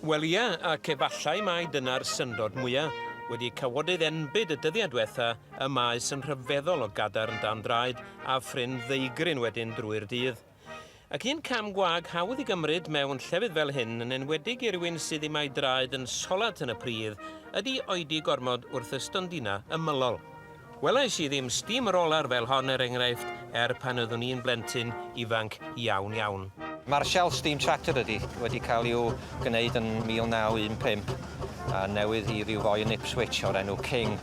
Wel ia, ac efallai mai dyna'r syndod mwya', wedi cawodydd enbyd y dyddia' dwetha', y maes yn rhyfeddol o gadarn dan draed a phrin ddeugryn wedyn drwy'r dydd. Ac un cam gwag hawdd i gymryd mewn llefydd fel hyn, yn enwedig i rywun sydd ddim a'i draed yn solat yn y pridd, ydi oedi gormod wrth y stondina' ymylol. Welais i ddim steamroller fel hon er enghraifft er pan oeddwn i'n blentyn ifanc iawn iawn. Marshall Steam Tractor ydy, wedi cael i'w gwneud yn 1915 a newydd i ryw foi yn Ipswich o'r enw King,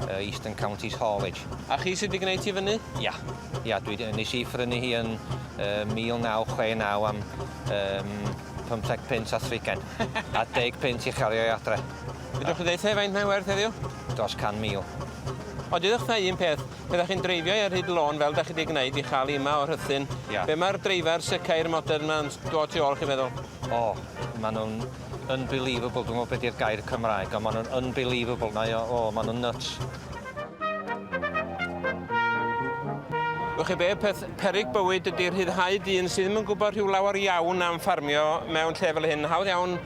yy Eastern Counties Haulage. A chi sy 'di gwneud hi fyny? Ia. Ia, dwi 'di, nes i phrynu hi yn yy 1969 am yym pymtheg punt a thrigen a deg punt i chario'i adre. Fedrwch chi ddeutha i faint mae'n werth heddiw? Dros 100,000. O, dudwch na un peth, pe ddach chi'n dreifio i ar hyd lôn fel dach chi wedi gwneud i chael i yma o Rhuthun, yeah. be mae'r dreifar sycair modern yma'n dod tu ôl chi'n meddwl? O, oh, maen nhw'n unbelievable, dwi'n gwybod beth yw'r gair Cymraeg, ond maen nhw'n unbelievable, mae o, o, maen nhw'n nuts. Wch chi be, peth perig bywyd ydy rhyddhau dyn sydd ddim yn gwybod rhyw lawer iawn am ffarmio mewn lle fel hyn. Hawdd iawn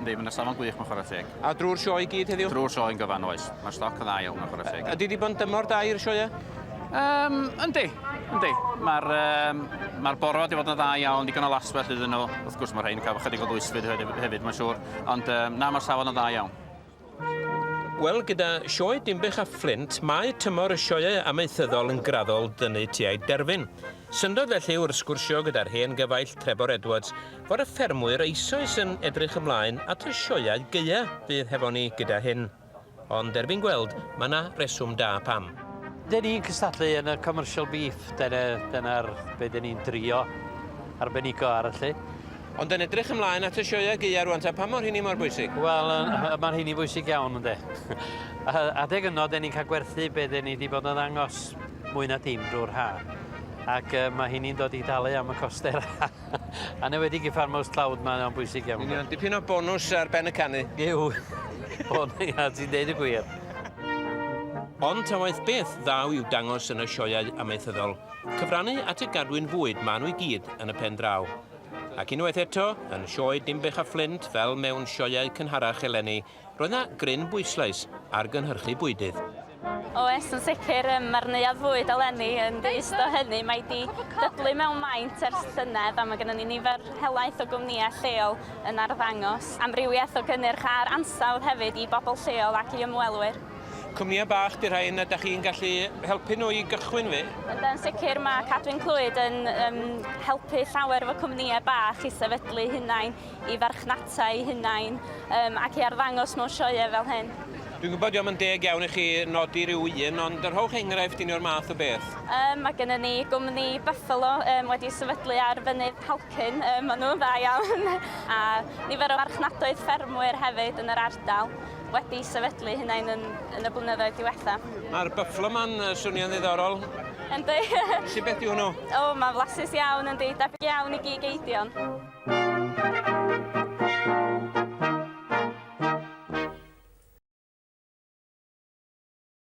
Yndi, mae 'na safon gwych mewn chwarae teg. A drwy'r sioe i gyd heddiw? Drwy'r sioe yn gyfan, oes. Mae'r stoc yn dda iawn mewn chwarae teg. Ydy di bod yn dymor da i'r sioe? Um, yndi, yndi. Mae'r um, ma boro wedi bod yn dda iawn, digon o laswell iddyn nhw. Wrth gwrs mae rhain yn cael ychydig o ddwysfyd hefyd, mae'n siŵr. Ond um, na, mae'r safon yn dda iawn. Wel, gyda Sioe Dinbych a Fflint, mae tymor y sioeau amaethyddol yn graddol dynnu tua'i derfyn. Syndod felly, wrth sgwrsio gyda'r hen gyfaill Trebor Edwards, fod y ffermwyr eisoes yn edrych ymlaen at y sioeau gaea fydd hefo ni gyda hyn. Ond erbyn gweld, mae 'na reswm da pam. Dyn ni'n cystadlu yn y commercial beef, dyna, dyna'r be' dyn ni'n drio arbenigo ar y lle. Ond yn edrych ymlaen at y sioeau gaeaf rŵan ta, pam mor hynny mor bwysig? Wel, yy ma'n hynny bwysig iawn ynde. A- adeg yno 'den ni'n cael gwerthu be' 'den ni 'di bod yn ddangos mwy na dim drwy'r ha'. Ac yy ma' hynny'n dod i dalu am y coste yr ha'. Anewedig i Farmhouse Cloud mae o'n bwysig iawn. Yn union, dipyn o bonws ar ben y canu. Yw. O na ia, ti'n deud y gwir. Ond ta waeth beth ddaw i'w dangos yn y sioeau amaethyddol, cyfrannu at y gadwyn fwyd ma' nhw i gyd yn y pen draw. Ac unwaith eto, yn sioe Dinbych a Fflint fel mewn sioeau cynharach eleni, roedd 'na gryn bwyslais ar gynhyrchu bwydydd. Oes, yn sicr, mae'r neuadd fwyd eleni yn ddi-ist o hynny. Mae 'di dyblu mewn maint ers llynedd a mae gennym ni nifer helaeth o gwmnïau lleol yn arddangos amrywiaeth o gynnyrch a'r ansawdd hefyd i bobl lleol ac i ymwelwyr. Cwmnïau bach 'di rhain a 'da chi'n gallu helpu nhw i gychwyn fi? Yndan, sicr, mae Cadwyn Clwyd yn um, helpu llawer efo cwmnïau bach i sefydlu hunain, i farchnata i hunain um, ac i arddangos mewn sioeau fel hyn. Dwi'n gwybod diolch yn deg iawn i chi nodi rhyw un, ond yr hwch enghraifft un o'r math o beth. Um, mae gennym ni gwmni Buffalo um, wedi sefydlu ar fynydd Halcyn, um, maen nhw'n dda iawn, a nifer o farchnadoedd ffermwyr hefyd yn yr ardal. wedi sefydlu hunain yn, yn y blynyddoedd diwetha. Mae'r Buffalo Man uh, swnio'n ddiddorol. Yndi. Sut beth yw nhw? O, oh, mae'n flasus iawn, yndi. Debyg iawn i gig eidion.